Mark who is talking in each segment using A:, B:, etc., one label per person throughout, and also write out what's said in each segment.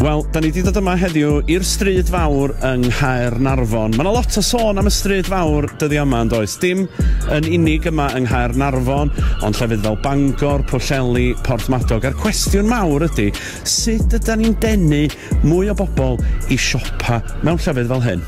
A: Wel, da ni wedi dod yma heddiw i'r stryd fawr yng Nghaer Narfon. Mae yna lot o sôn am y stryd fawr dyddi yma yn does. Dim yn unig yma yng Nghaer Narfon, ond llefydd fel Bangor, Pwllheli, Porthmadog. A'r cwestiwn mawr ydy, sut ydy ni'n denu mwy o bobl i siopa mewn llefydd fel hyn?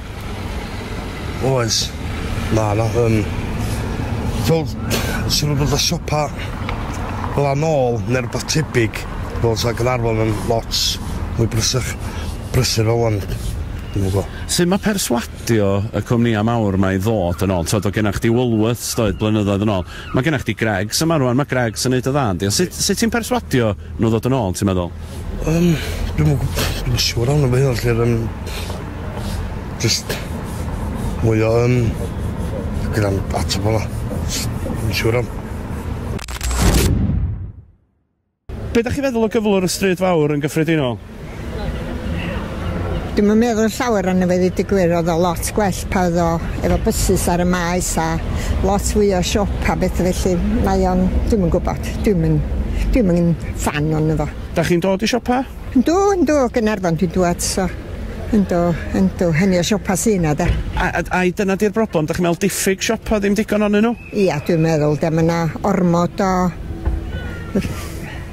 B: Oes. Na, na, yym... Fel, os yw rhywbeth fel siopa fel 'a nôl, ne' rwbath tebyg, fel sa Gaernarfon yn lot mwy brysach, brysur fel 'wan, dwi'm yn gwbo. Sut ma' perswadio
A: y cwmnïa' mawr 'ma i ddod yn ôl? T'od o' genna' chdi Woolworths doedd blynyddoedd yn ôl, Mae gennych chdi Greggs yma rwan, mae Greggs yn neud yn dda yndi? Ond sut sut ti'n perswadio nhw ddod yn ôl ti'n meddwl? Yym dwi'm
B: yn gwb- dwi'm yn siŵr iawn am hyn felly yr yym jyst mwy o yym gyda'n ateb fel'a. Jyst ddim yn siŵr iawn.
A: Be dach chi'n feddwl o gyflwr y Stryd Fawr yn gyffredinol?
C: Dwi'm yn meddwl llawer arno fe ddeud y gwir, oedd o lot gwell pan oedd o efo bysus ar y maes a lot fwy o siop a betha felly, mae o'n, dwi'm yn gwybod, dwi'm yn, dwi'm yn ffan ono fo. Dach chi'n dod i siopa?
A: Yndw, yndw, o
C: Gaernarfon dwi'n dŵad so yndw, yndw, hynny o siopa sy' 'na de. A, a, ai dyna di'r
A: broblem, dach chi'n meddwl diffyg siopa, ddim digon onyn nhw? Ia, dwi'n meddwl 'de,
C: mae 'na ormod o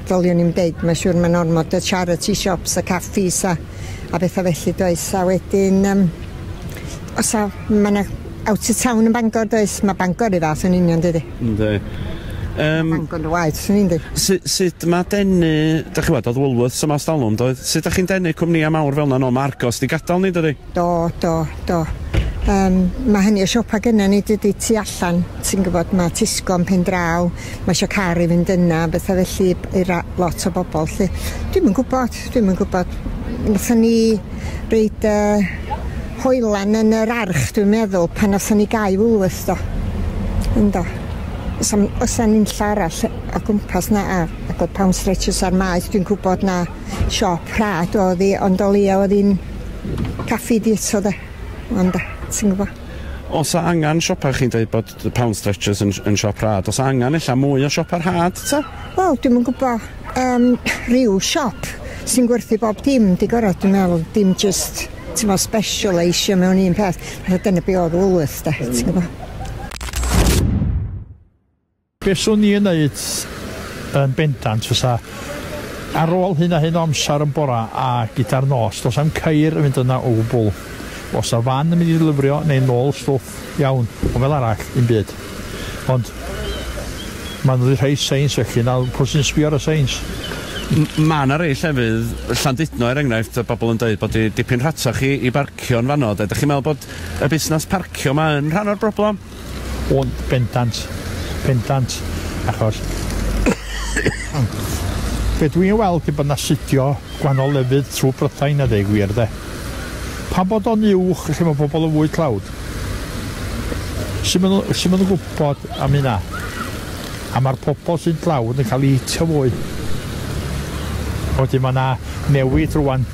C: ddylwn i'm deud, mae'n siŵr mae'n ormod o charity shops a caffis a, a bethau felly does, a wedyn um, os a, mae 'na out of town yn Bangor does, mae Bangor i fath yn union dydy. Ynddi. Um, Bangor y waith, swn i'n dweud. Sut, sut mae
A: denu, da chi wad, oedd Woolworths yma os dalwm, doedd? Sut da chi'n denu cwmnïau mawr fel yna? No, mae Argos di gadael ni, dydy? Do, do, do.
C: Yym, mae hynny, y siopa gynna ni dydy tu allan, ti'n gwybod, mae Tesco yn pen draw, mae eisiau car i fynd yna, bethau felly i ra- lot o bobl lle. Dwi'm yn gwybod, dwi'm yn gwybod. Nathon ni reid uh, hoelan yn yr arch, dwi'n meddwl, pan nathon ni gau Woolworth do. Ynddo. Os am, os am unlla arall o gwmpas na a, ac oedd pound stretches ar maes, dwi'n gwybod na siop rhad oedd hi, ond o leia oedd hi'n Caffi dietso de, wan de, ti'n gwybod. Os a angan
A: siopa chi'n dweud bod The Pound Stretchers yn, yn siop rhad. Os a angan ella mwy o siopa rhad, ta? Wel, dwi'n yn gwybod
C: um, rhyw siop sy'n gwerthu bob dim, di gorau, dwi'n meddwl, dim just, ti'n meddwl, special eisiau mewn un peth. Rhaid dyna be oedd Woolworth, da, ti'n gwybod.
D: Be swn i yn neud yn bendant fysa, ar ôl hyn a hyn o amser yn bora a gyda'r nos, does na'm ceir yn mynd yna o gwbl. Os na fan yn mynd i ddylyfrio neu nôl stwff, iawn, ond fel arall, dim byd. Ond ma' nhw 'di rhoi seins felly, nawr pw sy'n sbio ar y seins? M- ma'
A: 'na rei llefydd, Llandudno er enghraifft, y bobl yn deud bod hi dipyn rhatach i i barcio'n fanno de. Dach chi'n meddwl bod y busnas parcio 'ma yn rhan o'r broblem? Ond
D: bendant, bendant, achos be dwi'n ei weld yw bod 'na sudio gwahanol lefydd trwy Brydain a deu gwir de. Pam bod o'n uwch lle mae pobl yn fwy tlawd? Sut maen nhw, sut maen nhw'n gwybod am hynna? A mae'r pobl sy'n tlawd yn cael eu hitio fwy. Wedyn mae yna newid rwan.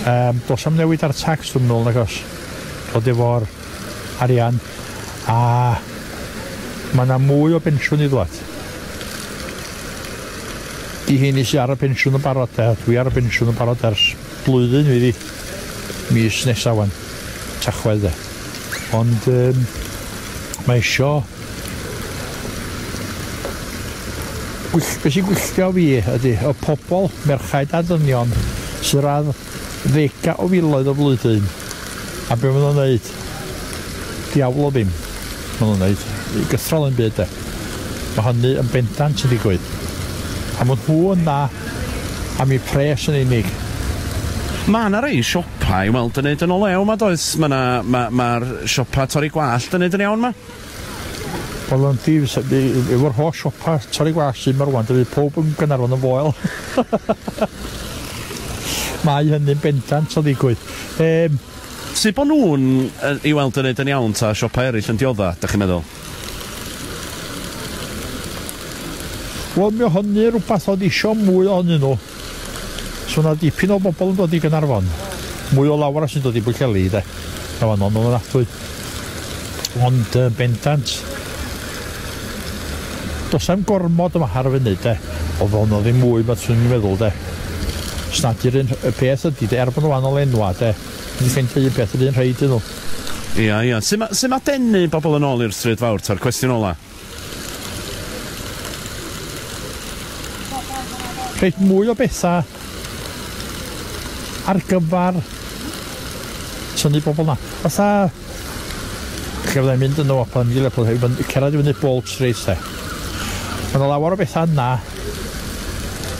D: Um, dos am newid ar tax dwi'n meddwl nag os. Dod efo'r arian a mae yna mwy o bensiwn i ddod. I hyn i sy'n ar y pensiwn yn barod de, dwi ar y pensiwn yn barod ers blwyddyn fi mis nesaf wan, tachwedd de. Ond um, mae isio gwyll, beth sy'n gwylltio fi ydy y pobl, merchaid a ddynion, sy'n rhaid Ddega o filoedd o flwyddyn. A be ma nhw'n neud? Diawl o ddim. Ma nhw'n neud i gythrol un byd de. Ma hynny yn bendant yn digwydd. A ma nhw yn dda am i pres yn unig. Ma
A: na rei siopa i weld yn neud yn o lew ma does? Ma na, ma, ma'r siopa torri gwallt yn neud yn iawn ma. Wel
D: yn ddi, efo'r holl siopa torri gwas sy'n marwan, rwan, dydy pob yn Gaernarfon yn foel. Mae hynny'n bendant o ddigwydd. Um,
A: Sut bod nhw'n i weld yn neud yn iawn ta siopau eraill yn diodda, da chi'n meddwl?
D: Wel, mi o hynny rhywbeth oedd eisiau mwy ohonyn nhw. So na dipyn o bobl yn dod i Gaernarfon. Mwy o lawer sy'n dod i Bwllheli de. Na fan o'n o'n atwy. Ond uh, bendant. Dos am gormod yma ar y funud de. Oedd o'n ddim mwy beth sy'n meddwl de. Snad i'r un y peth ydy de. Er bod nhw wahanol enwa de. Ydy ffeindio un peth yr un rhaid iddyn nhw. Ia, ia. Sut
A: mae sy ma denu bobl yn ôl i'r stryd fawr, ta'r cwestiwn ola?
D: Reit, mwy o bethau ar gyfer tynnu bobl na. Fatha, lle fyddai'n mynd yn o pan i Lerpwl hefyd, mae'n cerdded i fyny bob treis te. Mae yna lawer o bethau yna,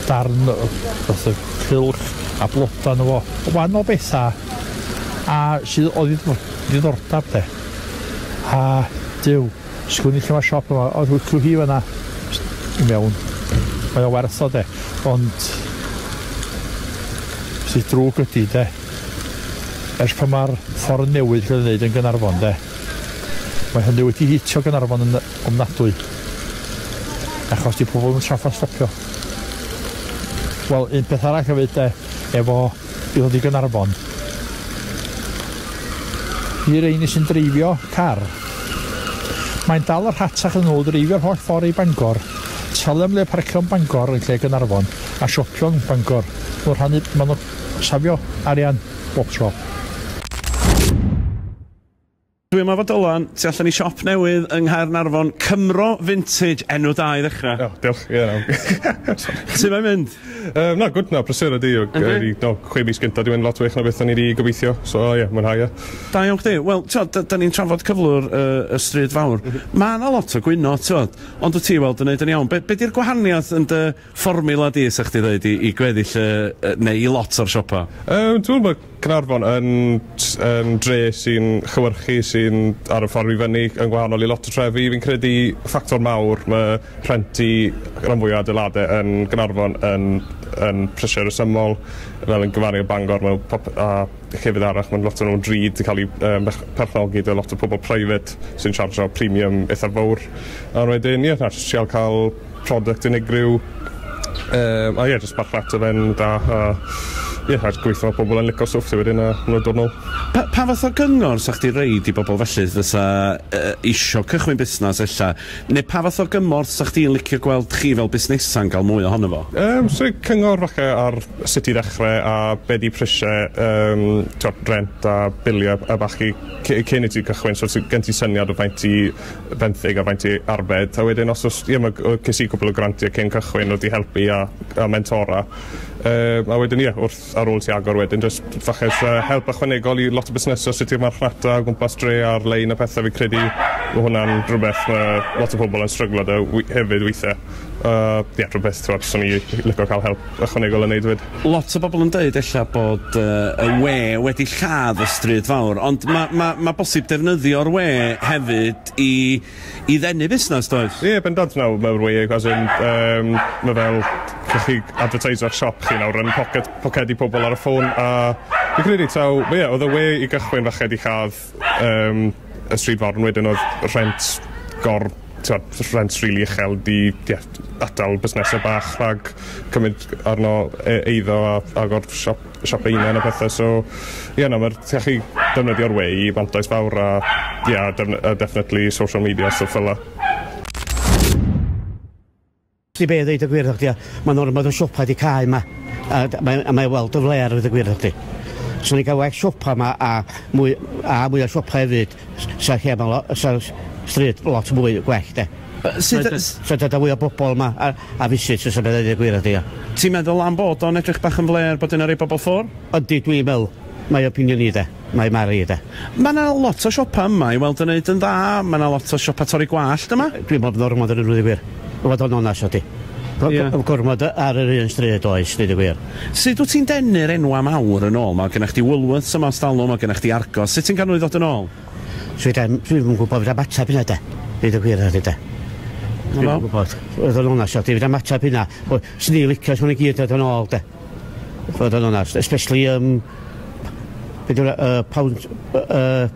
D: darn o fath o cylch a blodau yna fo, o fan o bethau a sydd o ddiddordeb te. A dyw, Sgwn i lle ma'r siop yma, oedd hwyl hi fanna i mewn. Mae o werth o de, ond sydd drwg ydy de, ers pan mae'r ffordd newydd gael ei wneud yn Gynarfon de, mae hynny wedi hitio Gynarfon yn ofnadwy, achos di pobl yn traffa stopio. Wel, un peth arall hefyd de, efo I ddod i Gaernarfon. I reini sy'n dreifio car. Mae'n dal y rhatach yn nhw dreifio'r holl ffordd i Bangor, talu am le parcio yn Bangor yn lle Gaernarfon, a siopio yn Bangor. Maen nhw'n rhannu, maen nhw'n safio arian bob tro.
A: Dwi yma fo Dylan, tu allan i siop newydd yng Nghaernarfon, Cymro Vintage, enw da i ddechrau. O, diolch, ie, iawn.
E: Sut mae'n mynd?
A: Um, na, gwd, na,
E: brysur ydi. Ydy? No, chwe mis gyntaf, dwi'n mynd lot wych na beth o'n i wedi gobeithio, so ie, yeah, mwynhau e. Da iawn chdi. Wel,
A: ti'od, da ni'n trafod cyflwr y, y stryd fawr. Mm -hmm. Mae yna lot o gwyno, ti'od, ond wyt ti weld yn neud yn iawn. Be, be di'r gwahaniaeth yn dy Fformiwla di, 'sa chdi ddeud, i i gweddill y y neu i lot o'r siopa? Yym dwi me'wl ma'
E: Caernarfon yn s- yn dre sy'n chywyrchu sy'n ar y ffordd i fyny yn gwahanol i lot o trefi fi'n credu ffactor mawr ma' rhent i ran fwya adeilade yn Gaernarfon yn yn prisie resymol fel yn gymaru â Bangor ma' pop- a llefydd arall ma'n lot o nw'n drud di ca'l i yy mech- perchnogi da lot o pobol private sy'n siarjio premium itha fowr a wedyn ie na jys trial ca'l product unigryw yym a ie jyst marchnata fe'n dda a ie a jys gweitho ma' pobol yn lico stwff ti wedyn a ma' nw'n dod nôl. Pa pa fath o
A: gyngor 'sa chdi roid i bobol felly fysa yy isio cychwyn busnas ella ne' pa fath o gymorth 'sa chdi'n licio gweld chi fel busnesa'n ga'l mwy ohono fo? Yym so i cyngor
E: falle ar sut i ddechre a be' 'di prisie yym t'wod rent a bilie a ballu cy- cyn i ti cychwyn so ti gen ti syniad o faint ti benthyg a faint i arbed a wedyn os oes ie ma' g- yy ces i cwpwl o grantie cyn cychwyn o'dd 'di helpu a a mentora yy a wedyn ie wrth ar ôl ti agor wedyn jyst falle o's yy help ychwanegol i lot o busnese os ydi'r marchnata o gwmpas dre ar-lein a pethe fi'n credu ma' hwnna'n rwbeth ma' lot o pobol yn stryglo 'da wi- hefyd withe yy ie rhwbeth t'wod swn i lico ca'l help ychwanegol yn neud 'fyd. Lot o bobl yn deud
A: ella bod yy y we wedi lladd y stryd fawr ond ma' ma' ma' bosib defnyddio'r we hefyd i i ddenu busnes does? Ie bendant nawr mae'r
E: we as in yym ma' fel gellwch chi adfyrteisio'ch siop chi nawr yn poced- pocedi pobl ar y ffôn a fi'n credu taw ie oedd y we i gychwyn falle 'di lladd um, y stryd fawr yn wedyn oedd rhent gor tywed, rhent rili really uchel di yeah, atal busnesau bach rhag cymryd arno e, eiddo a agor siop, siop ein a pethau so ie yeah, no, mae'r gallu defnyddio'r wei i fantais fawr a yeah, definitely social media stuff fel la.
F: Sti be ddeud y gwir thachdi a mae'n ormod o siopa di cau ma a, mae, a mae weld y flair ddeud y gwir thachdi. Swn i'n cael well siopa ma a mwy a mwy o siopa hefyd sa lle ma lo, sa stryd lot mwy gwell de. Sut sa dod â fwy o bobl ma a, a fisit fysa beth ddeud y gwir thachdi a. Ti'n meddwl am bod
A: o'n edrych bach yn flêr bod yna rei bobl ffwr? Yndi dwi'n meddwl,
F: mae opinion i de. Mae Mari de. Mae yna lot o
A: siopa yma i weld yn neud yn dda, mae yna lot o siopa torri gwallt yma. Dwi'n meddwl bod ormod yn ddweud y
F: gwir, i fod yn onast efo ti. Ie. Gormod ar yr un stryd oes, dweud y gwir. Sut wyt ti'n denu'r
A: enwau mawr yn ôl? Mae gennych chdi Woolworths yma ers talwm, mae gennych chdi Argos, sut ti'n cael nhw i ddod yn ôl? Dwi ddim, dwi'm
F: yn gwybod, fedra i'm ateb hynna de, dweud y gwir 'tha ti de. Dwi'm yn gwybod, i fod yn onast efo ti, fedra i'm ateb hynna. Swn i'n licio i nhw i gyd ddod yn ôl de. Fod yn onast, especially um, beth yw'r uh, pound... Uh,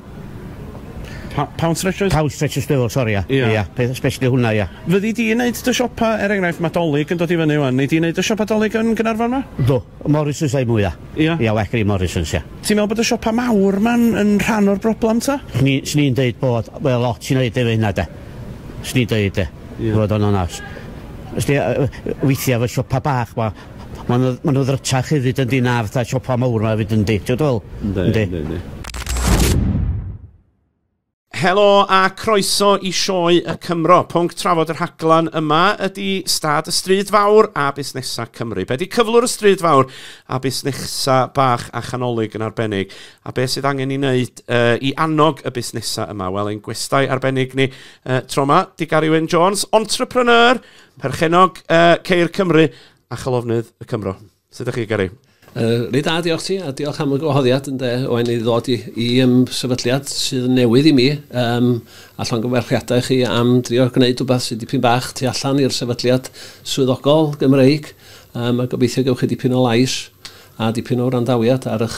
A: pound stretchers? Pound stretchers befo, sori,
F: ia. Ia, ia, peth especially hwnna, ia. Fyddi di yn neud dy
A: siopa, er enghraifft, mae dolyg yn dod i fyny wan. Nei di neud dy siopa dolyg yn Gynarfon ma? Do, Morrisons
F: ei mwy, ia. Ia? Ia, well i Morrisons, ia. Ti'n meddwl bod y siopa mawr
A: ma'n yn rhan o'r broblem, ta? Ni, Swn i'n deud bod,
F: wel, lot sy'n neud efo hynna, de. Swn i'n deud, de. Fod o'n onast. Ysdi, weithiau fy siopa bach, ma, Ma' nw ma' nw ddrytach hefyd yndi na fatha siopa mowr 'ma efyd yndi? T'od dwi fe'wl? Yndi. Yndi. Yndi yndi.
A: Helo a croeso i Sioe y Cymro. Pwnc trafod y rhaglen yma ydi stad y stryd fawr a busnesa Cymru. Be 'di cyflwr y stryd fawr a busnesa bach a chanolig yn arbennig? A be sydd angen 'i neud yy i annog y busnesa yma? Wel ein gwestai arbennig ni yy tro 'ma 'di Gary Wyn Jones, entrepreneur Perchennog uh, Ceir Cymru a Chalofnydd y Cymro. Sut ydych chi, Gary? Uh, Ryd da, diolch
G: ti, a diolch am y gwahoddiad yn de, o'n i ddod i, i um, sefydliad sydd yn newydd i mi, um, a llongyfarchiadau chi am drio gwneud rhywbeth sydd dipyn bach tu allan i'r sefydliad swyddogol Gymreig, um, a gobeithio gewch chi dipyn o lais a dipyn o wrandawiad ar eich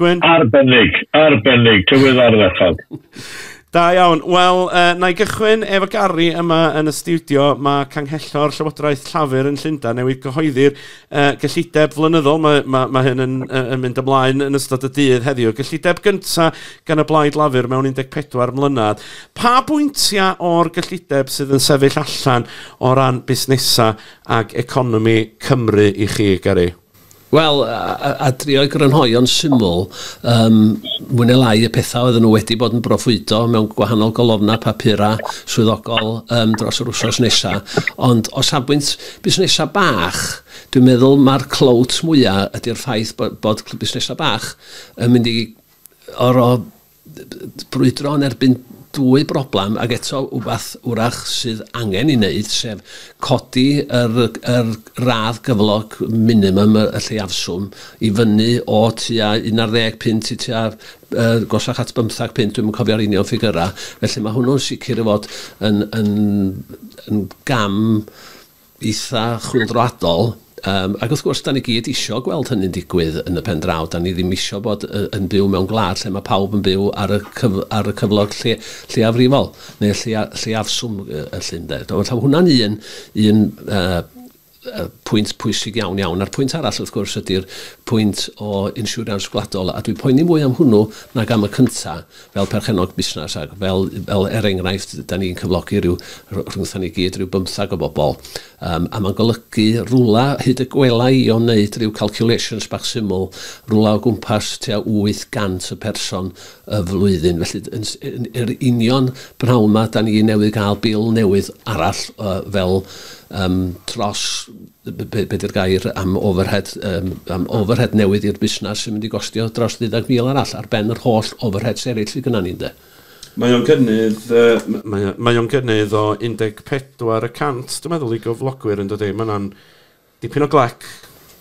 A: Gwyn? Arbennig,
H: arbennig, tywydd ardderchog. Da
A: iawn. Wel, uh, na i gychwyn efo Gary yma yn y studio. Mae canghellor Llywodraeth Llafur yn Llundain newydd gyhoeddi'r uh, gyllideb flynyddol. Mae, mae, mae hyn yn, uh, yn mynd ymlaen yn ystod y dydd heddiw. Gyllideb gyntaf gan y blaid Lafur mewn 14 mlynedd. Pa bwyntiau o'r gyllideb sydd yn sefyll allan o ran busnesau ac economi Cymru i chi, Gary? Wel,
G: a drio'i grynhoi o'n syml, yym, mwy neu lai y pethau oedden nhw wedi bod yn broffwydo mewn gwahanol golofnau papura swyddogol yym dros yr wsos nesa. Ond o safbwynt busnesau bach, dwi'n meddwl mae'r clout mwya ydy'r ffaith bod bod busnesau bach yn mynd i oro brwydro yn erbyn dwy broblem, ac eto wbath wrach sydd angen ei wneud, sef codi yr, yr radd gyflog minimum, y, y lleiafswm, i fyny o tua 11 punt i tua uh, gosach at 15 punt, dwi'n cofio'r union ffigyrau. Felly mae hwnnw'n sicr i fod yn, yn, yn gam eitha' chwyldroadol, yym ac wrth gwrs 'dan ni gyd isio gweld hynny'n digwydd yn y pen draw, 'dan ni ddim isio bod yy yn byw mewn gwlad lle ma' pawb yn byw ar y cyf- ar y cyflog lle- lleiafrifol neu y lleia- lleiafswm y y lle ynde. Dw- wel taw hwnna'n un un yy yy pwynt pwysig iawn iawn. A'r pwynt arall wrth gwrs ydi'r pwynt o insiwrans gwladol a dwi'n poeni mwy am hwnnw nag am y cynta', fel perchennog busnes ac fel, fel er enghraifft, da ni'n cyflogi rhyw, rhwngtha ni gyd, rhyw bymthag o bobl. Um, a mae'n golygu rwla, hyd y gwela i o'n neud rhyw calculations bach syml, rwla o gwmpas tua 800 y person y flwyddyn. Felly, yn, yn, yr union bnawn ma, da ni newydd gael bil newydd arall uh, fel um, tros be, be di'r gair am overhead, um, am overhead newydd i'r busnes sy'n mynd i gostio dros 30,000 arall ar ben yr holl overheads eraill sydd gyda ni, ynde? Mae o'n gynnydd, uh, mae,
A: mae o'n gynnydd o 14 y cant, dwi'n meddwl, i gyflogwyr yn dydy. Mae yna'n dipyn o glec.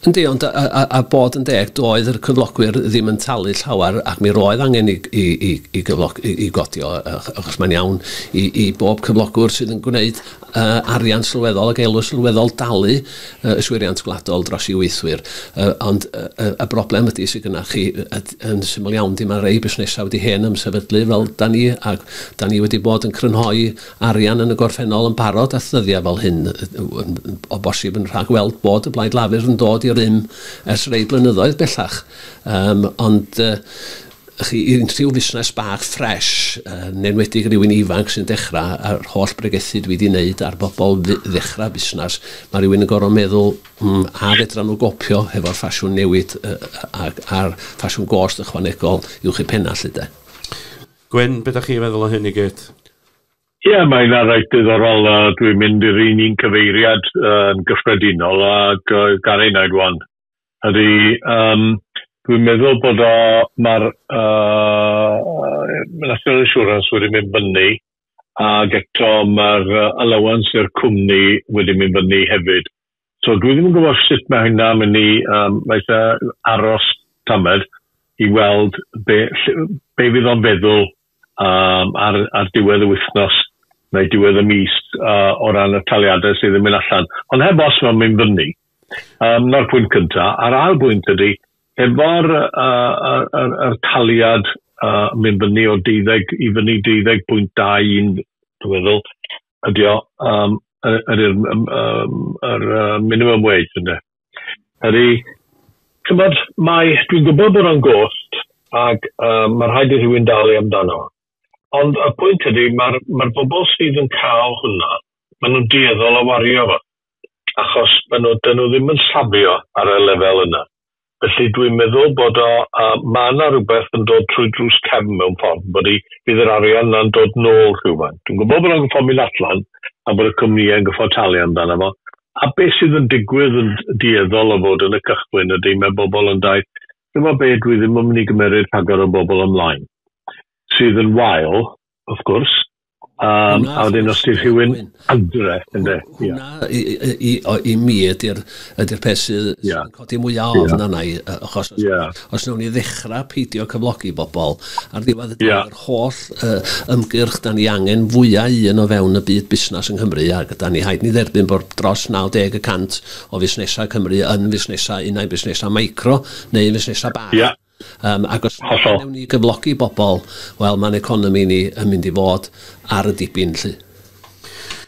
A: Yndi, ond a,
G: a, a bod yn deg, doedd yr cyflogwyr ddim yn talu llawer ac mi roedd angen i, i, i, i, gyflog, i, i godio, achos mae'n iawn i, i bob cyflogwr sydd yn gwneud arian sylweddol ac elw sylweddol dalu yswiriant gwladol dros i weithwyr. Ond y broblem ydy sydd gynnach chi, yn syml iawn, dim mae rei busnesau wedi hen ymsefydlu fel da ni, ac da ni wedi bod yn crynhoi arian yn y gorffennol yn barod at ddyddiau fel hyn, o bosib yn rhagweld bod y Blaid Lafur yn dod i rym ers rei blynyddoedd bellach. Ond Felly, i unrhyw fusnes bach ffresh, yn enwedig rywun ifanc sy'n dechrau, a'r holl bregethu dwi 'di neud ar bobl fu- ddechrau busnes, ma' rywun yn gor'o' meddwl, mm, a fedran nhw gopio hefo'r ffasiwn newid yy ag a'r ffasiwn gost ychwanegol uwch eu penna' 'lly 'de? Gwyn,
A: be' 'dach chi'n feddwl o hyn i gyd? Ie,
H: mae hynna reit ddiddorol. Yy, dwi'n mynd i'r un un cyfeiriad yy yn gyffredinol ag yy Garry 'na'i rwan. Ydy, yym dwi'n meddwl bod o ma'r yy National Insurance wedi mynd fyny ag eto ma'r yy allowance i'r cwmni wedi mynd fyny hefyd. So dwi ddim yn gwbo sut ma' hynna myn' i yym mae ella aros tamed i weld be' ll- be' fydd o'n feddwl um, ar, ar diwedd y wythnos neu diwedd y mis uh, o ran y taliadau sydd yn mynd allan. Ond heb os mae'n mynd fyny, um, na'r pwynt cyntaf. A'r ail bwynt ydy, efo'r uh, er, er, er taliad uh, mynd fyny o 12 i fyny 12.21, dwi'n meddwl, ydy o, um, yr, yr, yr, yr, yr minimum wage, ynddo. Ydy. Chimod, mae... Dwi'n gwybod bod o'n gost ac um, mae rhaid i rhywun dalu amdano. Ond y pwynt ydy, mae'r mae bobl sydd yn cael hwnna, maen nhw'n dueddol o wario fo. Achos maen nhw, dyn nhw ddim yn safio ar y lefel yna. Felly dwi'n meddwl bod o, uh, mae yna rhywbeth yn dod trwy drws cefn mewn ffordd, bod i fydd yr arian yna'n dod nôl rhywfaint. Dwi'n gwybod bod o'n gyffo mynd allan a bod y cwmnïau yn gyffo talu amdano fo, A be sydd yn digwydd yn dueddol o fod yn y cychwyn ydy mae bobl yn dau chimo be dwi ddim yn mynd i gymeryd rhagor o bobl ymlaen sydd yn wael wrth gwrs um, a wedyn os di rhywun adre ynde hwnna
G: i, i, i, mi ydy'r ydy'r peth sydd yeah. codi mwy o ofn yeah. arna i achos os, yeah. os nawn ni ddechrau peidio cyflogi bobl ar ddiwedd y yeah. holl yy ymgyrch 'dan ni angen fwya un o fewn y byd busnas yng Nghymru ac ydan ni haid ni dderbyn bod dros 90 y cant o fusnesau Cymru yn fusnesau unai busnesau micro neu fusnesau bach. Ia. Um, ac os Hollol. newn ni gyflogi bobl, wel mae'n economi ni yn mynd i fod ar y dibyn lly.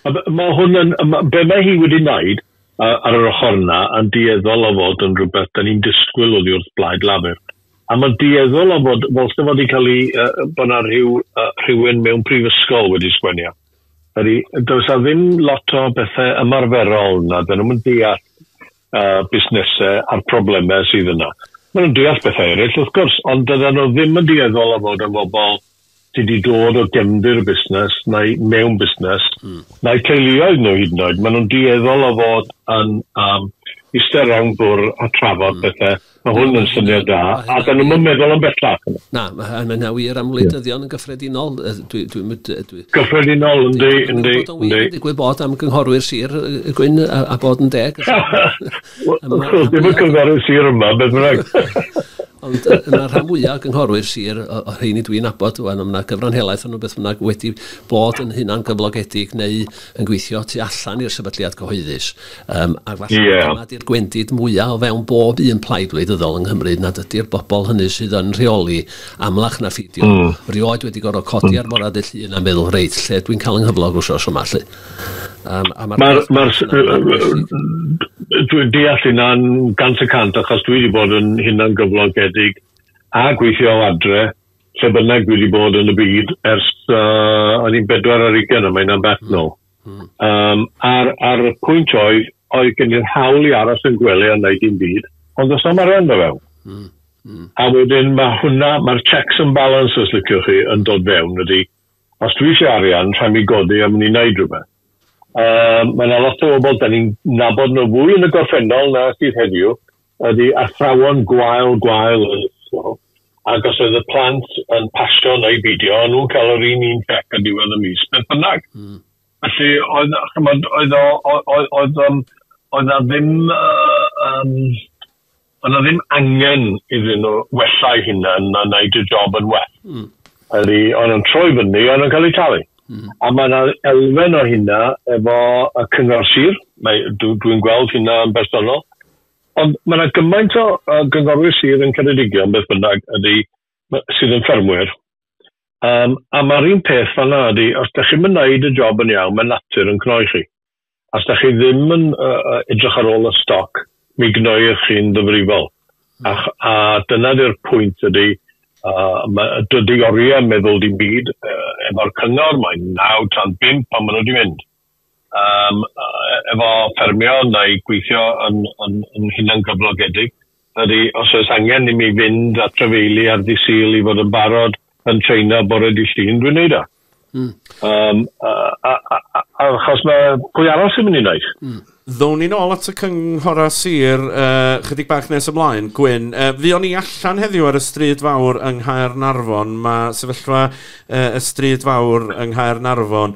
H: Mae hwn yn, be mae hi wedi wneud ar yr ochr yna yn dueddol o fod yn rhywbeth da ni'n disgwyl oddi wrth Blaid Lafur. A mae'n dueddol o fod, fel sy'n fod i cael ei, uh, bod yna rhyw, uh, rhywun mewn prifysgol wedi sgwenio. Ydy, does a ddim lot o bethau ymarferol na, dyn nhw'n deall uh, busnesau a'r problemau sydd yna. Maen nhw'n deall bethau eraill, wrth gwrs, ond dydyn nhw ddim yn dueddol o fod yn bobl sydd wedi dod o gefndir y busnes neu mewn busnes, mm. neu teuluoedd nhw hyd yn oed. Maen nhw'n dueddol o fod yn um, eistedd rownd bwr a trafod mm. bethau. Mae hwn yn syniad da, a dyn nhw'n meddwl am bellach. Na, mae hynna
G: wir am wleidyddion yn gyffredinol. Dwi, dwi, dwi, dwi,
H: gyffredinol, yndi, yndi, yndi. Dwi'n gwybod bod
G: am gynghorwyr sir y gwyn a, a bod yn deg. Wel, ddim yn
H: cynghorydd sir yma, beth bynnag. Ond uh, yna
G: rhan fwyaf o gynghorwyr sir, o, o rheini dwi'n abod, wel, yna gyfran helaeth o'n beth bynnag wedi bod yn hunan gyflogedig neu yn gweithio tu allan i'r sefydliad cyhoeddus. Um, ac falle yeah. dyna di'r gwendid mwyaf o fewn bob un plaid wleidyddol yng Nghymru nad ydy'r bobl hynny sydd yn rheoli amlach na ffidio. Mm. Rioed wedi gorfod codi mm. ar morad y llun a meddwl, reit, lle dwi'n cael yng nghyflog wrth os yma, lle. Um, a mae'r... Mae'r... Mae'r...
H: Dwi'n deall hynna'n gant y cant, achos dwi wedi bod yn hynna'n gyflogedig a gweithio o adre, lle bynnag dwi wedi bod yn y byd, ers uh, o'n i'n bedwar ar ugen yma, yna'n beth nôl. Mm. Um, a'r, ar y pwynt oedd, oedd gen i'r hawl i aros yn gwely a wneud i'n byd, ond os am arian fe fewn. Mm. Mm. A wedyn mae hwnna, mae'r checks and balances, liciwch chi, yn dod fewn, ydy. Mm Os dwi isie arian, rhai' mi godi am ni neud rhywbeth. A mae 'na lot o bobl 'dan ni'n nabod nhw fwy yn y gorffennol na sydd heddiw, ydi athrawon gwael, gwael yn ysgol, ac os oedd y plant yn pasio neu beidio, o'n nhw'n cael yr un un cheque ar diwedd y mis beth bynnag. Felly oedd, ch'mod, oedd o oedd oedd oedd yym oedd 'na ddim yy yym Oedd 'na ddim angen iddyn nhw wella'i hunan, mae'n wneud y job yn well. Mm. Ydy, o'n nhw'n troi fyny, o'n nhw'n cael eu talu. Mm. A mae yna elfen o hynna efo y cyngor sir, dwi'n dwi gweld hynna yn bersonol, ond mae yna gymaint o uh, gyngorwyr sir yn Ceredigion, beth bynnag, ydy, sydd yn ffermwyr. Um, a mae'r un peth fanna ydy, os da chi'n mynd wneud y job yn iawn, mae natur yn cnoi chi. Os dach chi ddim yn edrych ar ôl y stoc, mi gnoir chi'n ddifrifol. A dyna di'r pwynt ydy, dydy oriau meddwl dim byd efo'r cyngor, mae'n naw tan bump pan maen nhw wedi mynd. Efo ffermio neu gweithio yn hunangyflogedig, Ydy, os oes angen i mi fynd at drafeili ar ddydd Sul i fod yn barod yn trainio bore dydd Llun, dwi'n neud o. Mm. Um, a, a, a, a, achos mae pwy arall sy'n mynd i wneud? Mm. Ddown ni nôl
A: at y cynghorau sir uh, chydig bach nes ymlaen. Gwyn, uh, fi o'n i allan heddiw ar y stryd fawr yng Nghaer Narfon. Mae sefyllfa uh, y stryd fawr yng Nghaer Narfon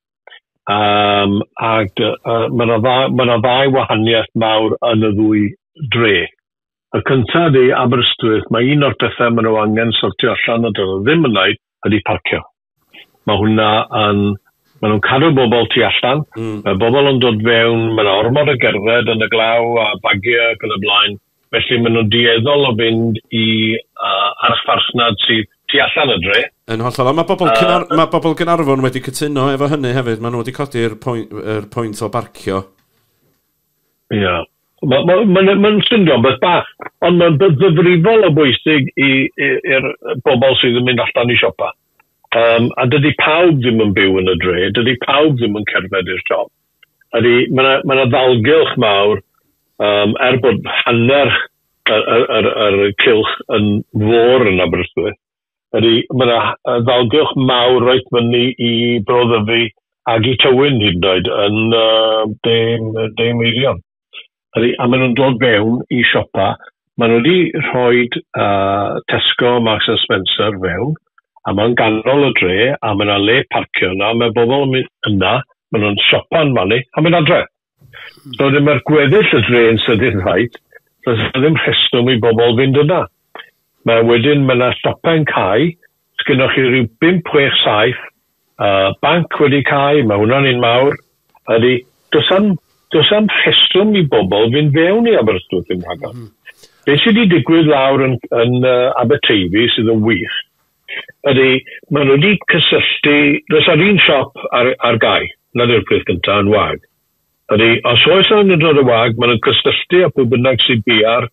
H: Um, ac uh, mae yna ddau, ma ddau wahaniaeth mawr yn y ddwy dre. Y cyntaf ydy Aberystwyth, mae un o'r pethau maen nhw angen sortio allan a dyn ddim yn wneud ydy parcio. Mae hwnna yn... Maen nhw'n cadw bobl tu allan, mm. mae bobl yn dod fewn, mae yna ormod o gerdded yn y glaw a bagiau ac yn y blaen, Felly maen nhw'n dueddol o fynd i archfarchnad sydd tu allan y dre. Yn hollol. Ond mae bobl Caernarfon...
A: mae bobl Gaernarfon wedi cytuno efo hynny hefyd. Maen nhw wedi codi'r pwynt... yr pwynt o barcio. Ia. Mae... mae...
H: mae'n... mae'n swnio'n beth bach, ond mae'n beth ddifrifol o bwysig i... i... i'r bobl sydd yn mynd allan i siopa. Yym, a dydy pawb ddim yn byw yn y dre, dydy pawb ddim yn cerdded i'r siop. Ydy, mae 'na mae 'na ddalgylch mawr yym er bod hanner y y yr yr cylch yn fôr yn Aberystwyth, ydy, mae 'na yy ddalgylch mawr reit fyny i Bro Ddyfi ag i Tywyn hyd yn oed yn yy De m- De Meirion. Ydy, a maen nhw'n dod fewn i siopa. Maen nhw wedi rhoi uh, Tesco, Marks and Spencer fewn, a mae'n ganol y dre, a mae yna le parcio yna, mae bobl yn mynd yna, maen nhw'n siopa yn fannu, a mae'n adre. So ddim mae'r gweddill y dre yn sydyn rhaid, so ddim rheswm i bobl fynd yna. Mae wedyn, mae yna siopau'n cael, Sgynnoch chi ryw bump, chwech, saith yy banc wedi cau, mae hwnna'n un mawr. Ydy, does am does am rheswm i bobl fynd fewn i Aberystwyth ddim rhagor. Mm. Be sydd wedi digwydd lawr yn, yn uh, Aberteifi sydd yn wych ydy, maen nhw wedi cysylltu, does ar un siop ar, ar gau, na yw'r peth gyntaf yn wag. Ydy, os oes angen dod y wag, maen nhw'n cysylltu â phwy bynnag sy'n biau'r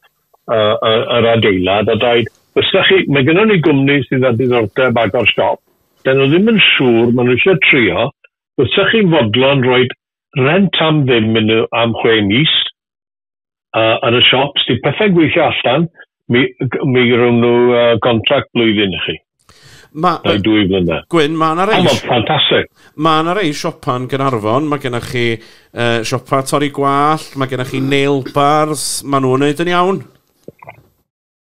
H: yr adeilad a dweud, os da chi, mae gennym ni gwmni sydd â diddordeb agor siop, dan nhw ddim yn siŵr, maen nhw eisiau trio, os da chi'n fodlon rhoi rhent am ddim iddyn nhw am chwe mis, uh, yn y siops, di pethau'n gweithio allan, mi, mi rhwng nhw uh, gontract blwyddyn i chi. Ma, Neu dwy
A: flynedd. Gwyn, mae yna rei... ffantastig.
H: Mae yna rei
A: siopa'n Gynarfon, mae gennych chi uh, siopa torri gwallt, mae gennych chi nail bars, mae nhw'n wneud yn iawn.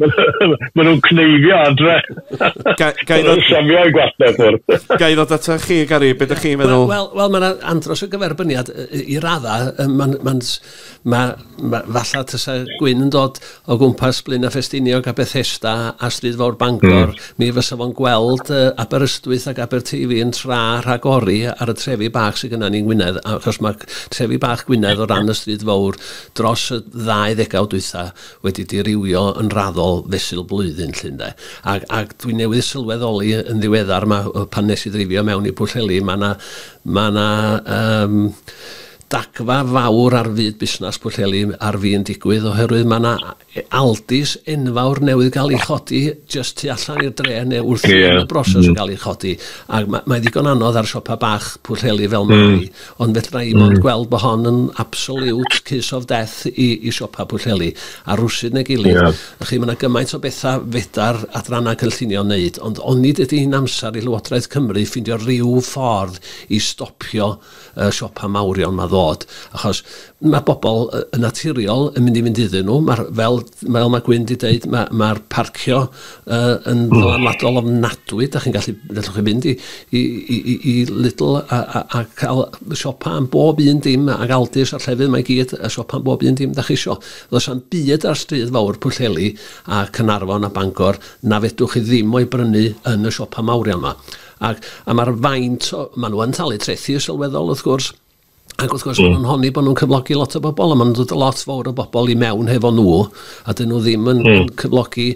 H: Mae nhw'n cneifio adre. Gael nhw'n siafio i gwasnau ffwrdd. Gael ddod ato chi,
A: Gary, beth ydych chi'n meddwl? Wel, wel mae'n andros
G: o gyferbyniad i raddau. Mae'n, mae'n, ma, ma, falle tysa Gwyn yn dod o gwmpas Blaen a Ffestiniog a Bethesda a Stryd Fawr Bangor, mm. mi fysa fo'n gweld uh, Aberystwyth ac Aberteifi yn tra rhagori ar y trefi bach sydd gyda ni'n Gwynedd, achos mae trefi bach Gwynedd o ran y Stryd Fawr dros y ddau ddegawd dwytha wedi dirywio yn raddol fesul blwyddyn 'lly ynde. Ac ac dwi newydd sylweddoli yn ddiweddar 'ma yy pan nes i ddreifio mewn i Pwllheli ma' 'na ma' 'na yym dagfa fawr ar fyd busnas Pwllheli ar fin digwydd oherwydd ma' 'na e- Aldis enfawr newydd ga'l 'i chodi jyst tu allan i'r dre ne' wrthi yn y broses o ga'l 'i chodi ac ma' mae ddigon anodd ar siopa' bach Pwllheli fel mae hmm. Ond fedra i mond gweld bod hon yn absolute kiss of death i, i siopa Pwllheli, a rwsyd neu gilydd. Yeah. Chi, mae yna gymaint o bethau fedar adrannau cynllunio wneud, ond onid ydy'n amser i Lywodraeth Cymru ffindio rhyw ffordd i stopio y siopa mawrion mae ddod? Achos Mae pobl yn naturiol yn mynd i fynd iddyn nhw. Mae'r, fel, fel mae Gwyn wedi dweud, mae, mae'r parcio uh, yn mm. ddylanwadol ofnadwy. Da chi'n gallu, gallwch chi fynd i, i, i, i, i Lidl a, a, a cael siopa am bob un dim ac Aldis a'r llefydd mae gyd a siopa am bob un dim da chi isio. Does am byd ar stryd fawr Pwllheli a Cynarfon a Bangor na fedwch chi ddim o'i brynu yn y siopa mawr iawn yma. Ac, a mae'r faint, o, maen nhw yn talu trethi sylweddol wrth gwrs, Ac wrth gwrs, mm. maen nhw'n honni bod nhw'n cyflogi lot o bobl, a maen nhw'n dod lot fawr o bobl i mewn hefo nhw, a dyn nhw ddim yn, mm. yn cyflogi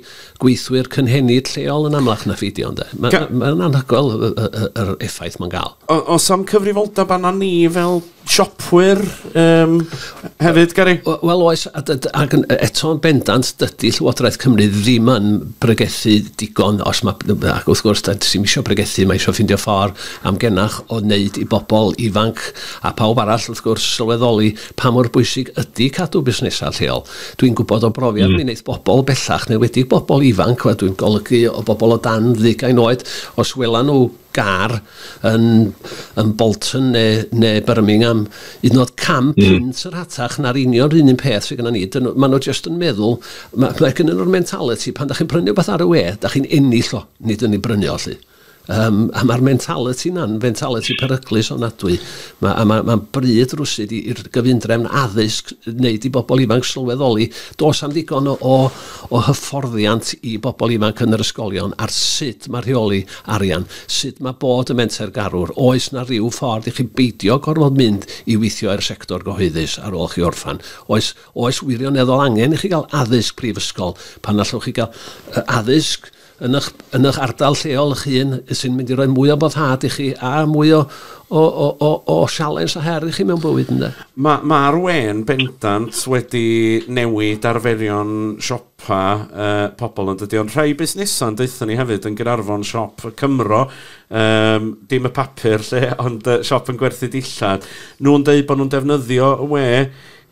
G: gweithwyr cynhenid lleol yn amlach na ffidio. Mae'n ma, ma anhygoel yr effaith mae'n gael. O, o sam cyfrifoldeb
A: anna ni fel siopwyr um, hefyd, Gary? Wel oes,
G: ac eto yn bendant, dydy Llywodraeth Cymru ddim yn bregethu digon, os mae, ac wrth gwrs, da, sy'n eisiau bregethu, mae eisiau ffindio ffordd am gennych o wneud i bobl ifanc, a phawb arall wrth gwrs, sylweddoli pa mor bwysig ydy cadw busnesau lleol. Dwi'n gwybod o brofiad mi wneith bobl bellach, yn enwedig bobl ifanc, a dwi'n golygu o bobl o dan ddeugain oed, os welan nhw gar yn yn Bolton neu neu Birmingham, hyd yn oed cam punt yn rhatach na'r union yr un un peth sydd gynnon ni, dyn nhw, maen nhw jyst yn meddwl, ma' ma' gynnon nhw'r mentaliti, pan dach chi'n prynu rhywbeth ar y we, dach chi'n ennill o, nid yn ei brynu o 'lly. Um, a mae'r mentality na'n mentality peryglus ofnadwy. Mae, a mae, mae'n bryd rwsyd i'r gyfundrefn addysg wneud i bobl ifanc sylweddoli. Dos am ddigon o, o, o hyfforddiant i bobl ifanc yn yr ysgolion ar sut mae rheoli arian, sut mae bod y menter garwr. Oes na rhyw ffordd i chi beidio gorfod mynd i weithio i'r sector gyhoeddus ar ôl chi orffan? Oes, oes wirioneddol angen i chi gael addysg prifysgol pan allwch chi gael uh, addysg yn ych, yn ych ardal lleol ych hun sy'n mynd i roi mwy o boddhad i chi a mwy o, o, o, o, o sialens a her i chi mewn bywyd ynddo. Mae'r ma, ma wen
A: bendant wedi newid arferion siopa uh, pobl ond ydy o'n rhai busnesau deutha ni hefyd yn Gynarfon siop y Cymro um, dim y papur lle ond uh, siop yn gwerthu dillad nhw'n dweud bod nhw'n defnyddio y we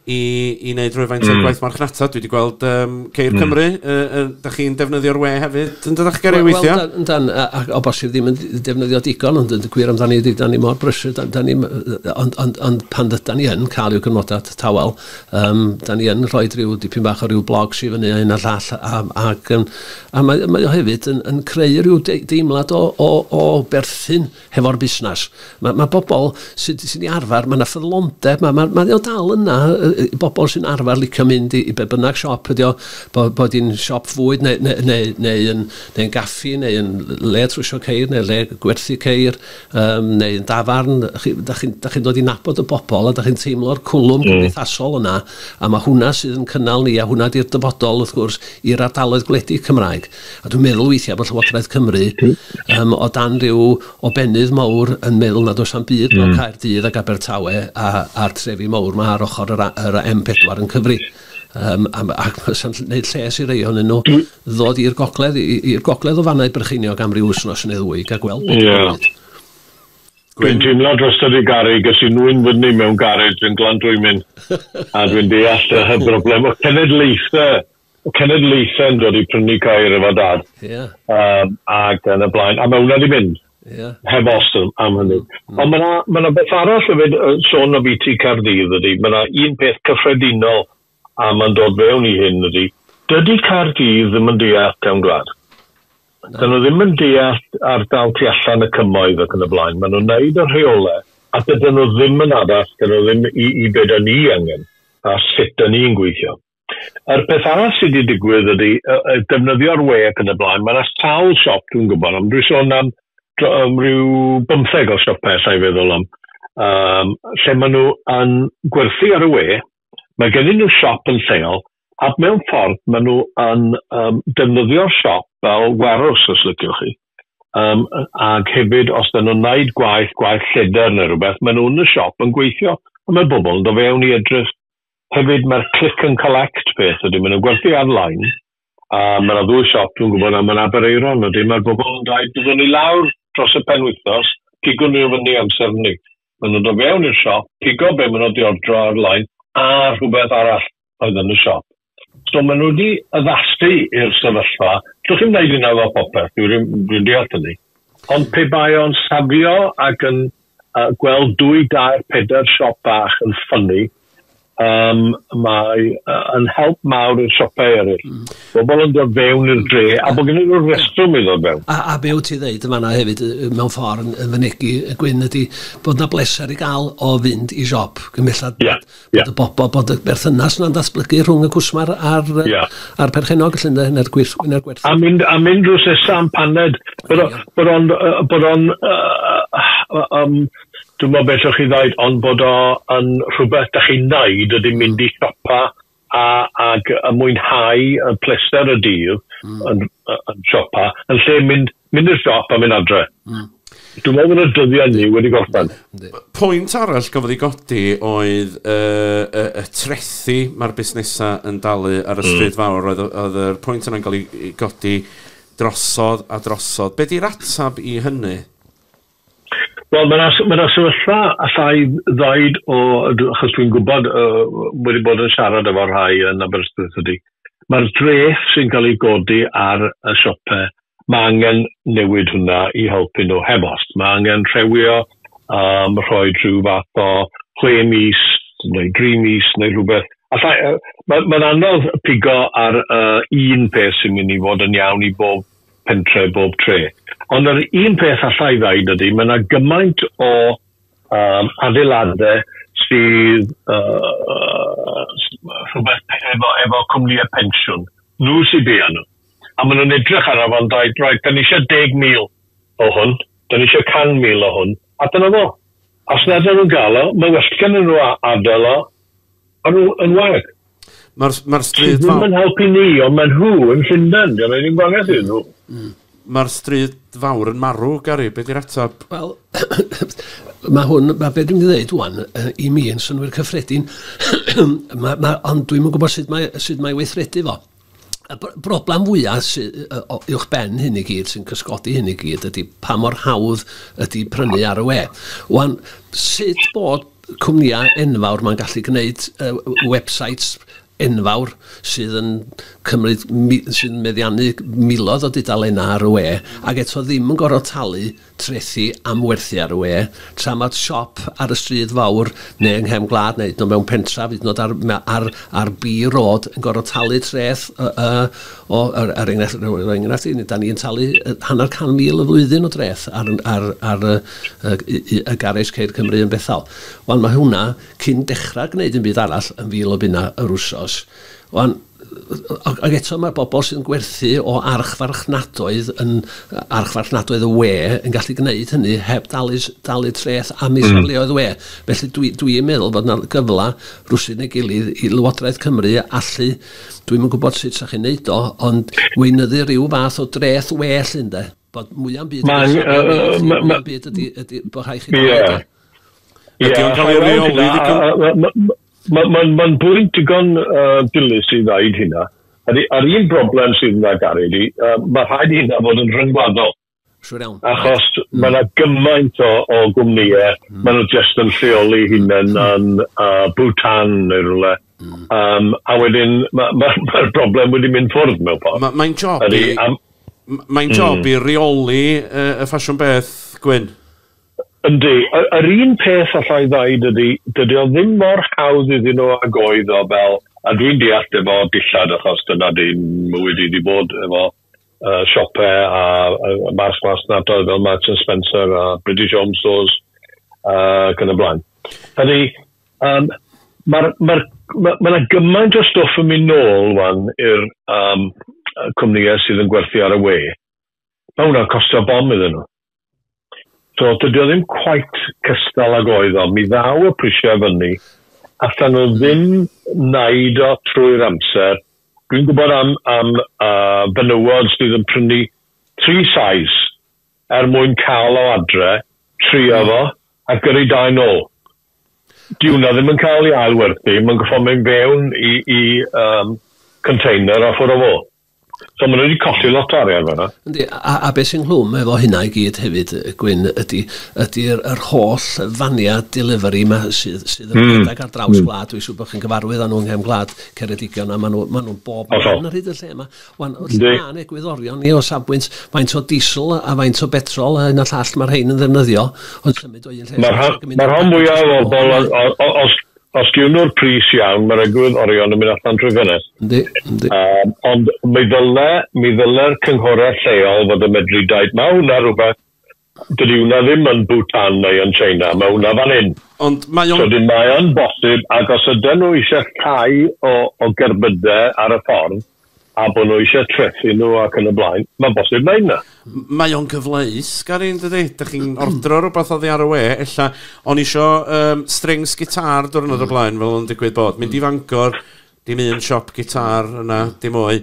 A: i, i wneud rhywfaint mm. o'r gwaith marchnata. Dwi wedi gweld um, Ceir mm. Cymru, uh, uh, da chi'n defnyddio'r we hefyd yn dydach Gary well, weithiau? Wel, dan, a, o
G: bosib ddim yn defnyddio digon, ond yn gwir amdani, da ni mor brysur, da, da ni, ond, ond, ond pan da ni yn cael i'w gymodau tawel, um, da ni yn rhoi rhyw dipyn bach o rhyw blog sy'n fyny a hyn a llall, a, a, a, a mae, mae o hefyd yn, yn creu rhyw deimlad o, o, o berthyn hefo'r busnes. Mae, mae bobl sy'n sy ni arfer, mae yna ffyddlondeb, mae, mae, mae o dal yna, y, bobl sy'n arfer licio mynd i, i be bynnag siop ydi o, bod, bod i'n siop fwyd neu, neu, neu, neu, yn, neu yn gaffi, neu yn le trwysio ceir, neu le gwerthu ceir, um, neu yn dafarn. Chi, da chi'n chi, chi dod i nabod y bobl a da chi'n teimlo'r cwlwm mm. cymdeithasol yna, a mae hwnna sydd yn cynnal ni, a hwnna di'r dyfodol, wrth gwrs, i'r ardaloedd gwledig Cymraeg. A dwi'n meddwl weithiau bod Llywodraeth Cymru um, o dan rhyw o benydd mawr yn meddwl nad oes am byd mewn mm. Caerdydd ac Abertawe a, a'r trefi mawr mae ar ochr yr, yr M4 yn cyfri. Um, am, ac mae'n gwneud lles i rei ohonyn nhw ddod i'r gogledd, i'r gogledd o fannau brycheiniog am ryw wsnos yn eddwy, gael gweld beth yeah.
H: yw'n Dwi'n teimlo dros yr garig, ges i nwy'n fyny mewn garej yn glan dwi'n mynd, a dwi'n deall y broblem o cenedlaethau cenedlaethau'n dod i prynu cair efo dad. Yeah. Um, ac yn y blaen. A mae hwnna wedi mynd. Yeah. Heb os am hynny. Mm, mm. Ond mae yna ma na beth arall hefyd yn sôn o BT Cardydd ydy. Mae yna un peth cyffredinol a mae'n dod fewn i hyn ydy. Dydy Cardydd ddim yn deall cawn gwlad. No. Dyn nhw ddim yn deall ardal tu allan y cymoedd ac yn y blaen. Maen nhw'n neud y rheolau a dydyn nhw ddim yn addas, dyn nhw ddim i, i beth ni angen a sut dyn ni'n gweithio. Yr peth arall sy 'di digwydd ydi yy yy defnyddio'r we ac yn y blaen, ma' 'na sawl siop dwi'n gwybod am, dwi'n sôn am dro- yym ryw bymtheg o siope alla i feddwl am yym lle ma' nhw yn gwerthu ar y we, ma' gennyn nhw siop yn lleol ac mewn ffordd ma' nhw yn yym defnyddio'r siop fel warehouse os liciwch chi yym yy ag hefyd os 'dyn nhw'n neud gwaith gwaith lleder ne' rwbeth ma' nhw yn y siop yn gweithio a ma' bobol yn do' fewn i edrych Hefyd mae'r click and collect peth ydy, maen nhw'n gwerthu ar-line a mae yna ddwy siop dwi'n gwybod am yn Aberaeron ydy, mae'r bobl yn dweud byddwn ni lawr dros y penwythnos, pigwn nhw fyny amser hynny. Maen nhw'n dod fewn i'r siop, pigo be maen nhw wedi ordro ar-line a rhywbeth arall oedd yn y siop. So maen nhw wedi addasu i'r sefyllfa, allwch chi'm wneud hynna efo popeth, dwi'n deall hynny. Ond pe bai o'n safio ac yn Yy gweld dwy dair pedair siop bach yn ffynnu yym mae yy yn help mawr i'r siopau eryll. Mm. Bobl yn dod fewn i'r dre a bod gennyn nhw'r restrwm i ddod fewn. A a be wyt ti ddeud yn fanna
G: hefyd yy mewn ffordd yn yn fynegi yy Gwyn ydi bod 'na bleser i gael o fynd i siop cyn bellad... Ia. Bod y bobl, bod y berthynas yna'n datblygu rhwng y cwsmar a'r, uh, yeah. a'r perchennog felly ynde, neu'r gwir, neu'r gwerth. A mynd, a
H: mynd drwy sesam paned, bod o'n, bod o'n, bod o'n, um, dwi'n meddwl beth o'ch chi ddaid, ond bod o'n rhywbeth da chi'n naid ydy mynd i siopa a, ag y mwynhau y pleser y dydd mm. yn, yn siopa, yn lle mynd Mynd i'r siop a mynd adre. Mm. Dwi'n meddwl bod y dyddiau ni wedi gorffen. Pwynt arall
A: gafodd ei godi oedd y, y, y trethi mae'r busnesau yn dalu ar y mm. stryd fawr. Oedd, oedd yr pwynt yna'n cael ei godi drosodd a drosodd. Be di'r atab i hynny?
H: Wel, mae'n ma yna sefyllfa allai ddoed o, achos dwi'n gwybod uh, wedi bod yn siarad efo rhai yn Aberystwyth ydy, mae'r dreth sy'n cael ei godi ar y siopau Mae angen newid hwnna i helpu nhw heb os. Mae angen rhewio, um, rhoi rhyw fath o chwe mis neu dri mis neu rhywbeth. Alla, uh, mae, mae'n anodd pigo ar uh, un peth sy'n mynd i fod yn iawn i bob pentre, bob tre. Ond yr un peth allai ddaid ydy, mae yna gymaint o um, adeiladau sydd uh, rhywbeth efo, efo cwmnïau pensiwn. Nhw sydd bia nhw. a maen nhw'n edrych arno fo'n dweud, right, 'da ni eisiau 10,000 o hwn, 'da ni eisiau 100,000 o hwn, a dyna fo. Os nad ydyn nhw'n gael o, mae well gennyn nhw adael o, a nhw yn wag. Mae'r ma
A: stryd... Sydd ddim yn helpu ni, ond maen
H: nhw yn Llundain, dyna ddim gwahaniaeth iddyn nhw. Mm. Mae'r
A: stryd fawr yn marw, Gary, beth yw'r ateb? Wel,
G: mae hwn, mae beth dwi'n mynd i ddweud wwan, i mi yn synwyr cyffredin, ma, ma, ond dwi'n yn gwybod sut mae, sut mae weithredu fo. Y broblem fwyaf sydd uwch ben hyn i gyd, sy'n cysgodi hyn i gyd, ydy pa mor hawdd ydy prynu ar y we. Wan, sut bod cwmnïau enfawr mae'n gallu gwneud uh, websites enfawr sydd yn cymryd, sy'n meddiannu miloedd o dudalennau ar y we, ac eto ddim yn gorfod talu trethi am werthu ar y we, tra mod siop ar y stryd fawr neu yng nghefn gwlad neu hyd yn oed mewn pentref, hyd yn oed ar ar ar B Road yn gorfod talu treth yy yy o er, er enghraifft, roi enghraifft i ni, da ni'n talu hanner can mil y flwyddyn o dreth ar ar ar y, y, y, y garej Ceir Cymru yn Bethel. Wan mae hwnna cyn dechrau gwneud un byd arall yn fil o bunna yr wsos. Wan, Ac eto mae'r bobl sy'n gwerthu o archfarchnadoedd yn archfarchnadoedd y we yn gallu gwneud hynny heb dalu, dalu treth am ei safleoedd mm. we. Felly dwi'n dwi, dwi meddwl bod yna gyfle rwsyd neu gilydd i Lywodraeth Cymru allu, dwi'n yn gwybod sut sa'ch chi'n neud o, ond weinyddu rhyw fath o dreth we llun de. Bod mwya'm byd... Mae'n... Mwya'm byd ydy, ydy bod rhai chi... Ie. Ydy
A: o'n cael ei reoli ddigon? Mae'n ma, ma
H: bwynt digon uh, dilys i ddaid hynna. A'r, ar un broblem sydd yna, Gary, ydy, uh, mae rhaid i hynna fod yn rhyngwladol. Siwr iawn. Achos right. mae yna gymaint o, o gwmnïau, mm. maen nhw jyst yn lleoli hunain mm. yn uh, Bhutan neu rhywle. Mm. Um, a wedyn, mae'r ma, ma, ma broblem wedi mynd ffwrdd mewn ffordd. Mae'n ma job i... Mae'n
A: job mm. i reoli uh, y ffasiwn beth, Gwyn? Yndi,
H: yr un peth alla i ddeud ydi, dydi o ddim mor hawdd iddyn nhw ag oedd o fel, a dwi'n deall efo dillad achos dyna dim mywyd i di bod efo uh, siope a, a mas mas nadoedd fel Marks and Spencer a British Home Stores uh, ac yn y blaen. Ydy, um, mae'r ma Mae ma yna gymaint o stwff yn mynd nôl wan i'r um, cwmnïau sydd yn gwerthu ar y we. Mae hwnna'n costio bom iddyn nhw. So, dydy o ddim quite cystal ag oedd o. Mi ddaw y prisiau fyny. Allan nhw ddim naid o trwy'r amser. Dwi'n gwybod am, am uh, benywod sydd yn prynu tri sais er mwyn cael o adre, trio fo, a gyrru dau nôl. Di hwnna ddim yn cael ei ailwerthu, mae'n goffa mynd fewn i, i um, container a ffwrdd o fo. So maen nhw wedi colli lot o arian fanna. Yndi, a, a beth sy'n
G: nghlwm efo hynna i gyd hefyd, Gwyn, ydy, ydy yr, yr holl faniau delivery yma sydd, sydd yn mm. rhedeg ar draws mm. gwlad, dwi'n siŵr bod chi'n gyfarwydd â nhw'n nghefn gwlad Ceredigion, a maen nhw, maen nhw bob yn yr hyd y lle yma. Wan, wrth ma'n egwyddorion ni o safbwynt faint o diesel a faint o betrol a hyn a llall mae'r rhain yn ddefnyddio, ond symud o un lle... Mae'r
H: rhan, ma rhan fwyaf o bobl, os, Os gwnwr pris iawn, mae'r egwydd orion yn mynd allan trwy ffenest. Yndi, yndi. Yym, ond mi ddyle, mi ddyle'r cynghorau lleol fod yn medru deud, mae hwnna rhywbeth, dydy hwnna ddim yn Bhutan neu yn China, mae hwnna fan hyn. Ond mae o'n... So dyn mae o'n bosib, ac os ydyn nhw eisiau llai o, o gerbydau ar y ffordd, a bod nhw eisiau trethu nhw ac yn y blaen, mae'n bosib wneud 'na. Mae o'n gyfleus,
A: Gary, yn dydi? Dych chi'n ordro rhywbeth oddi ar y we, ella, o'n i isio um, strings gitar diwrnod mm. o blaen, fel o'n digwydd bod. Mynd mm. i Fangor, dim un siop gitar yna, dim o'i.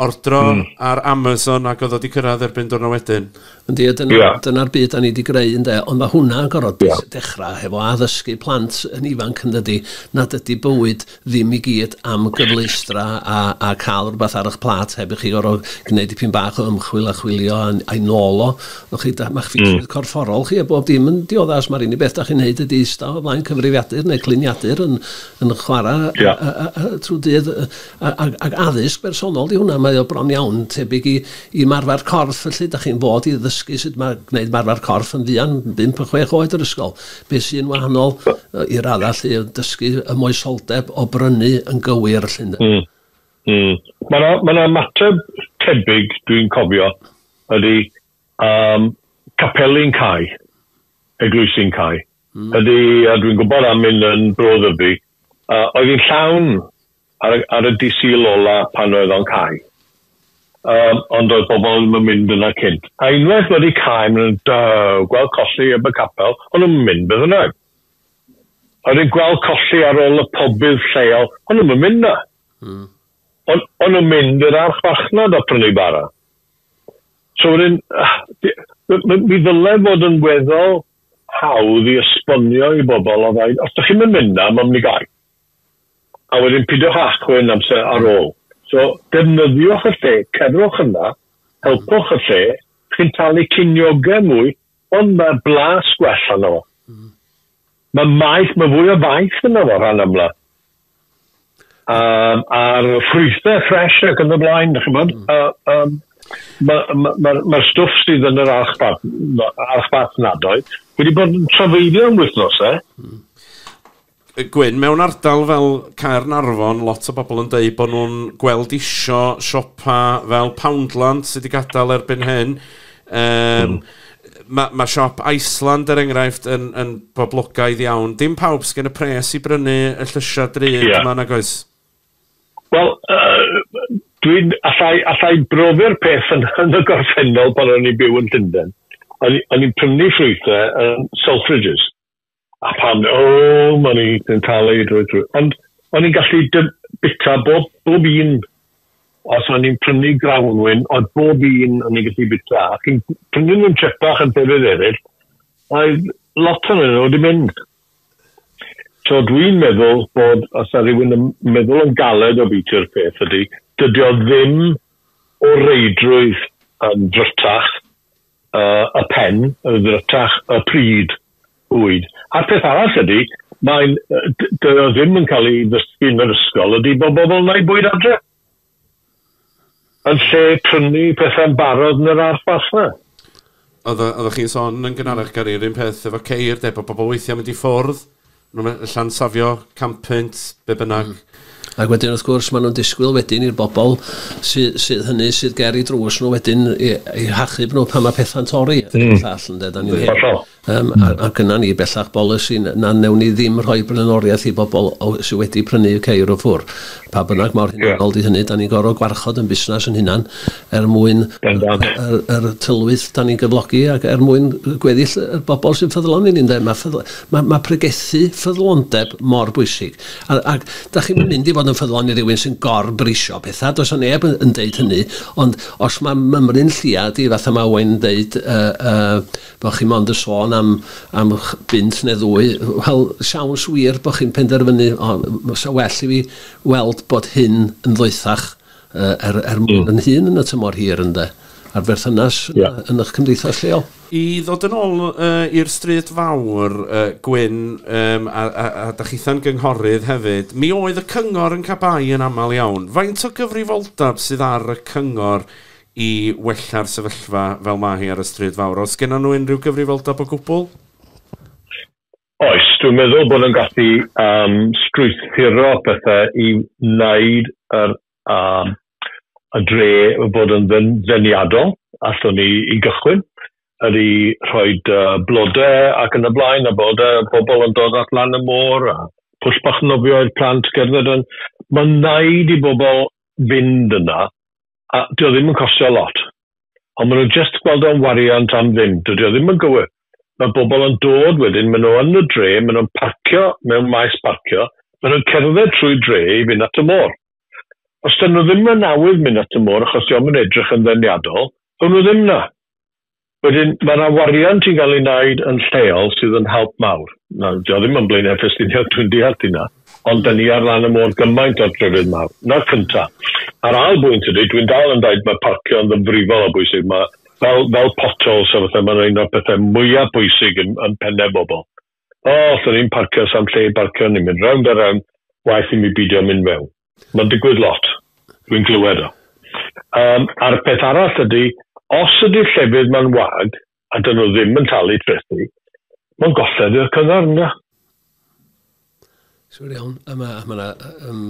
A: Ordro mm. ar Amazon ac oedd o wedi cyrraedd erbyn diwrnod wedyn. Yndi, a dyna... Ia. ...dyna'r
G: byd 'dan ni 'di greu ynde? Ond ma' hwnna yn gor'o'... Ia. ...dechra hefo addysgu plant yn ifanc yndydi? Nad ydi bywyd ddim i gyd am gyfleustra a a ca'l rwbath ar 'ych plât heb i chi gor'o' gneud dipyn bach o ymchwil a chwilio a'n a'i nôl o. W'ch chi 'da- ma'ch ffitrwydd... Hmm. ...corfforol chi a bob dim yn diodda' os ma'r unig beth 'dach chi'n neud ydi ista o flaen cyfrifiadur neu cluniadur yn yn chwara... Ia. ...a a a a trw dydd yy a ag ag addysg bersonol 'di hwnna mae o bron iawn tebyg i Ymarfer corff, felly, dach chi'n fod i ddysgu sut mae gwneud ymarfer corff yn fuan, bump a chwech oed yr ysgol. Be sy'n wahanol yy i radda lle yn dysgu y moesoldeb o brynu yn gywir lle ynde? Mm. Mm.
H: Mae yna ma na mateb tebyg dwi'n cofio ydy um, capeli'n cau, eglwysi'n cau. Mm. Ydy, a dwi'n gwybod am un yn Bro Ddyfi, uh, oedd hi'n llawn ar y ar y dy Sul ola pan oedd o'n cau um, ond doedd pobl ddim yn mynd yna cynt a unwaith wedi cau maen nhw'n daw gweld colli eb y capel o'n nhw'n mynd beth yna oedd yn gweld colli ar ôl y pobydd lleol, ond nhw'n mynd na. Mm. Ond on nhw'n mynd i'r archfarchnad a prynu bara. So wedyn, ah, mi ddylai fod yn weddol hawdd i esbonio i bobl o ddain, os ydych chi'n mynd na, mae'n mynd i gael. a wedyn pidiwch â chwyn amser ar ôl. So, defnyddiwch y lle, cerwch yna, helpwch y lle, chi'n talu cinioge mwy, ond mae blas gwell arno fo. Mm. Mae maeth, mae fwy o faeth yna fo rhan amla. Um, a'r ffrwythau ffres ac yn y blaen, ydych chi'n bod? Mm. Um, Mae'r ma, ma, ma stwff sydd yn yr archbad, archbad nadoedd wedi bod yn trafeilio am wythnosau. Mm. Gwyn,
A: mewn ardal fel Caernarfon, lot o bobl yn dweud bod nhw'n gweld isio siopa fel Poundland sydd wedi gadael erbyn hyn. Um, mm. Mae ma siop Iceland, er enghraifft, yn, yn boblogaidd iawn. Dim pawb sy'n gen y pres i brynu y llysiau drud yeah. yma nag oes? Wel,
H: uh, dwi'n allai, allai brofi'r peth yn, yn y gorffennol pan o'n i'n byw yn Llundain. O'n i'n prynu ffrwythau yn Selfridges. A pan, o, o'n i yn cael ei drwy drwy. Ond o'n i'n gallu bita bob, bob un, os o'n i'n prynu grawnwyn, oedd bob un o'n i'n gallu bita. Ac yn prynu nhw'n trepach yn llefydd eraill, oedd lot o'n nhw wedi mynd. So dwi'n meddwl bod, os yna rhywun yn meddwl yn galed o biti'r peth ydy, dydy o ddim o reidrwydd yn drytach, uh, y pen yn ddrytach y pryd, bwyd. A'r peth arall ydy, mae'n, dwi o ddim yn cael ei ddysgu yn yr ysgol, ydy bod bobl yn ei bwyd adre. Yn lle prynu pethau'n barod yn yr arff allan.
A: Oeddech chi'n sôn yn gynharach, Gary, yr un peth efo ceir, de, bod bobl weithiau'n mynd i ffwrdd Maen nhw'n llansafio campynt, be bynnag. Mm. Ac wedyn, wrth
G: gwrs, maen nhw'n disgwyl wedyn i'r bobl sydd, sydd hynny sydd ger i drws nhw wedyn i, i hachub nhw pan mae pethau'n torri. Mm. Llall, ynde, da ni'n hyn. Um, mm. a, a gyna ni bellach bolisi na newn ni ddim rhoi blaenoriaeth i bobl sydd wedi prynu y ceir o ffwr. Pa bynnag mor hynny, yeah. di hynny, da ni'n gorfod gwarchod yn busnes yn hunan er mwyn yr, yr, yr tylwyth da ni'n gyflogi ac er mwyn gweddill y bobl sy'n ffyddlon i ni, ynde? Mae ffyddlon Mae, mae pregethu ffyddlondeb mor bwysig. A, ac da chi'm yn mynd i fod yn ffyddlon i rywun sy'n gor-brisio pethau, does o neb yn, yn deud hynny, ond os mae mymryn lliad i, fatha mae Owain yn deud, uh, uh, bod chi mond yn sôn am, am bint neu ddwy, wel, siawns wir bod chi'n penderfynu, o, sa well i fi weld bod hyn yn ddoethach Yy, er, er mwyn yn hun yn y tymor hir, ynde? A'r berthynas yeah. yn eich cymdeithas lleol. I ddod yn ôl
A: uh, i'r stryd fawr, uh, Gwyn, um, a, a, a da chitha'n gynghorydd hefyd, mi oedd y cyngor yn cabai yn aml iawn. Faint o gyfrifoldeb sydd ar y cyngor i wella'r sefyllfa fel mae hi ar y stryd fawr? Os gennym nhw unrhyw gyfrifoldeb o gwbl?
H: Oes, dwi'n meddwl bod yn gallu um, strwythuro pethau i wneud yr, um, y dre bod yn ddeniadol, allwn ni i gychwyn, ydy rhoi uh, blodau ac yn y blaen, a bod uh, pobl yn dod at lan y môr, a pwll bach nofio i'r plant gerdded yn... Mae'n wneud i bobl fynd yna, a dio ddim yn costio lot. ond maen nhw'n jyst gweld o'n wariant am ddim, dydy o ddim yn gywir. Mae bobl yn dod wedyn, maen nhw yn y dre, maen nhw'n parcio mewn maes parcio, maen nhw'n cerdded trwy dre i fynd at y môr. Os dyn nhw ddim yn awydd mynd at y môr achos diom yn edrych yn ddeniadol, ddown nhw ddim na. Wedyn, mae yna wariant i gael ei wneud yn lleol sydd yn help mawr. Na, dio ddim yn Blaenau Ffestiniog, dwi'n deall hynna. Ond dyn ni ar lan y môr gymaint o'r drydydd mawr, na'r cynta. A'r ail bwynt ydy, dwi'n dal yn deud mae parcio'n ddyfrifol o bwysig, mae fel fel potholes a pethau, mae'n un o'r pethau mwyaf pwysig yn yn penne bobl. O, allwn ni'm parcio, sa'm lle i barcio, ni'n mynd rownd a rownd, waeth i mi beidio mynd mewn. Mae'n digwydd lot, dwi'n glywed o. Yym, a'r peth arall ydy, os ydy'r llefydd 'ma'n wag, a dyn nhw ddim yn talu trethi, mae'n golled i'r cyngor, ynddo?
G: Siwr iawn. A mae yna ma um,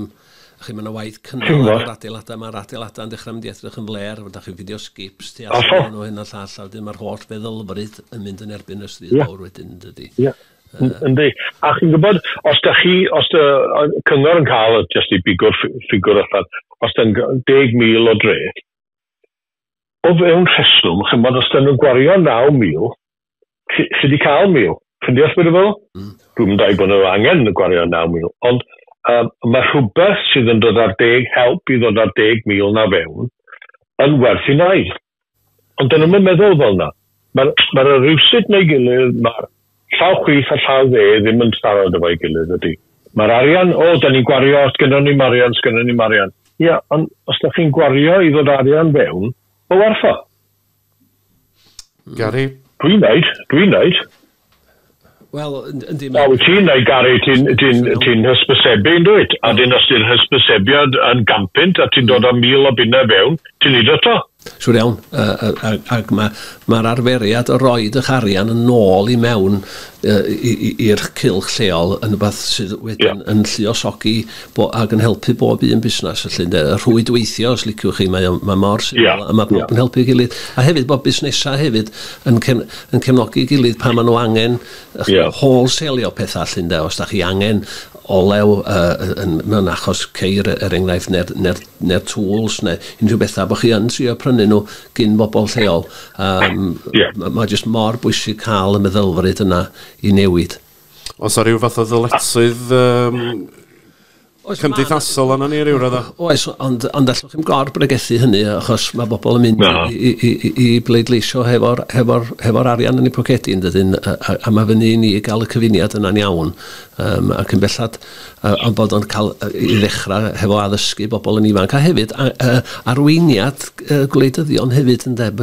G: chi, mae yna waith cynnal ar yr adeiladau, mae'r adeiladau yn dechrau mynd i edrych yn fler, fydda chi'n fideo skips tu allan o hyn a llall, a wedyn mae'r holl feddylfryd yn mynd yn erbyn y stryd yeah. fawr wedyn, dydy. Yeah. Uh, Yndi.
H: A chi'n gwybod, os da chi, os da cyngor yn cael, jyst i bigwr ffigwr allan, os da'n 10,000 o dreth, O fewn rheswm, chymod, os da nhw'n gwario 9,000, chi, chi di cael 1,000. Chi'n deall beth i fel? Mm. Dwi'n mynd i bod nhw angen y gwario 9,000. Ond um, mae rhywbeth sydd yn dod ar deg help i ddod ar deg mil na fewn yn werth i wneud. Ond dyn nhw'n meddwl fel yna. Mae'r, mae'r y rywsut neu'i gilydd, mae'r llaw chwith a llaw dde ddim yn siarad efo'i gilydd, ydy. Mae'r arian, o, da ni'n gwario, sgynnon ni'm arian, sgynnon ni'm arian. Ia, ond os da chi'n gwario i ddod arian fewn, o werth o.
A: Gary? Dwi'n neud,
H: dwi'n neud.
G: Wel, yndi... Wel, wyt ti'n dweud, Gary,
H: ti'n ti ti hysbysebu, yn dweud? A dyn, os ti'n hysbysebiad yn gampynt a ti'n dod â mil o bunnau fewn, ti'n neud o to? Siwr iawn,
G: ac mae'r ma arferiad o roed eich arian yn ôl i mewn i'r cilch lleol yn rhywbeth sydd wedyn yeah. yn lluosogi bo, ac yn helpu bob un busnes, felly, de, y rhwydweithio, os liciwch chi, mae, mae mor syml, yeah. a mae bob yeah. yn helpu gilydd. A hefyd, bod busnesau hefyd yn, cen, yn cefnogi'i gilydd pan maen nhw angen yeah. wholesaleio pethau allan da, os da chi angen olew uh, yn, mewn achos ceir e, er enghraifft neu'r, neu'r, neu'r tools neu unrhyw bethau bod chi yn trio prynu nhw gyn bobl lleol. Um, yeah. Mae ma jyst mor bwysig cael y meddylfryd yna i newid. Os ar ryw fath
A: o ddyletswydd um, Oes, cymdeithasol yna ni ryw radda. Oes, ond, ond
G: allwch chi'n gor bregethu hynny, achos mae bobl yn mynd no. i, i, i, i bleidleisio hefo'r hefo, hefo arian yn ei pocedi, yn dydyn, a, a, a mae fyny i ni gael y cyfuniad yna'n iawn. Um, ac yn bellad, uh, ond bod o'n cael uh, i ddechrau hefo addysgu bobl yn ifanc, a hefyd a, uh, arweiniad uh, gwleidyddion hefyd, yn deb,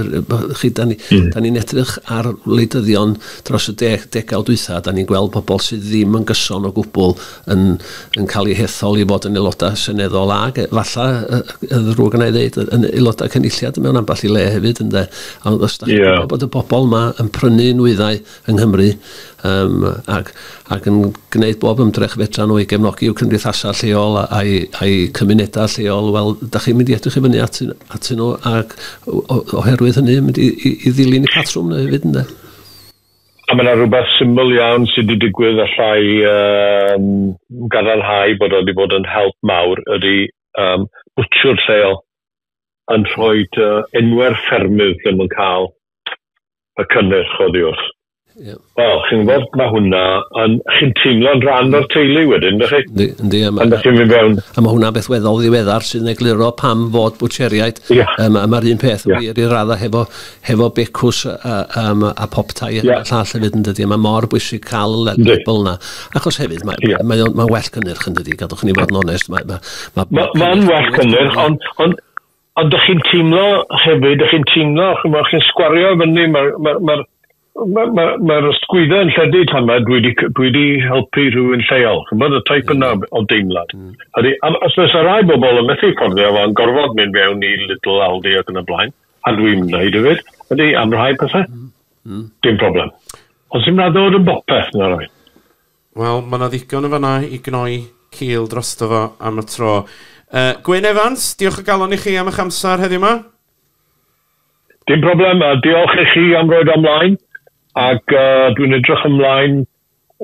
G: chi, da ni'n ni, mm. ni edrych ar wleidyddion dros y deg, degawd dwytha, da ni'n gweld bobl sydd ddim yn gyson o gwbl yn, yn cael ei hethol i fod yn aelodau seneddol ag efallai, y ddrwg yna i ddeud, yn aelodau cynulliad mewn ambell i le hefyd, ynde. Ond os da yeah. bod y bobl yma yn prynu nwyddau yng Nghymru um, ac, ac yn gwneud bob ymdrech fedra nhw i gefnogi i'w cymdeithasau lleol a'i, a'i cymunedau lleol, wel, da chi'n mynd i edrych i fyny at, at nhw ac oherwydd hynny mynd i, i, i ddilyn y patrwm hefyd, ynde. A mae
H: yna rhywbeth syml iawn sydd wedi digwydd allai um, gadarnhau bod o wedi bod yn help mawr ydy um, bwtsiwr lleol yn rhoi uh, enwau'r ffermydd lle mae'n cael y cynnyrch oddi wrth. Yeah. Wel, chi'n gwybod, mae hwnna, yn, chi'n teimlo'n rhan o'r teulu wedyn, ydych chi? Yndi, a
G: mae ma hwnna beth weddol ddiweddar sy'n egluro pam fod bwtseriaid. Yeah. Um, Mae'r un peth yeah. wir i raddau hefo hefo becws a, um, a poptai yeah. a llall hefyd yn dydi. Mae mor bwysig cael y label yna. Achos hefyd, mae, yeah. mae, mae, mae well cynnyrch
H: yn dydi,
G: gadwch ni fod yn onest.
H: Mae'n ma,
G: ma, ma,
H: ma
G: well cynnyrch, ond on,
H: on, dych chi'n teimlo hefyd, dych chi'n teimlo, chi'n sgwario fyny, mae'r ma, ma, ma Mae'r ma, ma, ma ysgwydda yn lledu tan mae dwi wedi helpu rhywun lleol. Chymod, y taip yna mm. o deimlad. Mm. Ydy, os oes rai bobl yn methu fforddio fo, yn gorfod mynd fewn i Little Aldi ac yn y blaen, a dwi'n mm. wneud hefyd, ydy, am rhai pethau, mm. Mm. dim problem. Ond sy'n rhaid ddod yn bopeth na rai. Wel, mae
A: yna ddigon yn fanna i gnoi cil dros fo am y tro. Uh, Gwyn Evans, diolch o galon i chi am eich amser heddiw yma.
H: Dim problem, a diolch i chi am roed o ymlaen, ac uh, dwi'n edrych ymlaen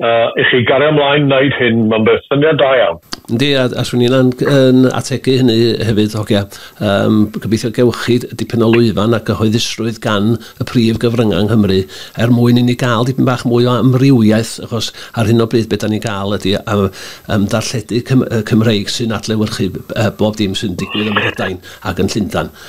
H: uh, i chi gario ymlaen wneud hyn, mae'n beth syniad da iawn. Yndi, a, a swn i'n
G: yn, yn ategu hynny hefyd, hogia. Um, gobeithio gewch chi dipyn o lwyfan a gyhoeddusrwydd gan y prif gyfryngau yng Nghymru er mwyn i ni gael dipyn bach mwy o amrywiaeth, achos ar hyn o bryd beth da ni'n gael ydy am, am darlledu Cym Cymreig sy'n adlewyrchu uh, bob dim sy'n digwydd ym Mhrydain ac yn Llundan.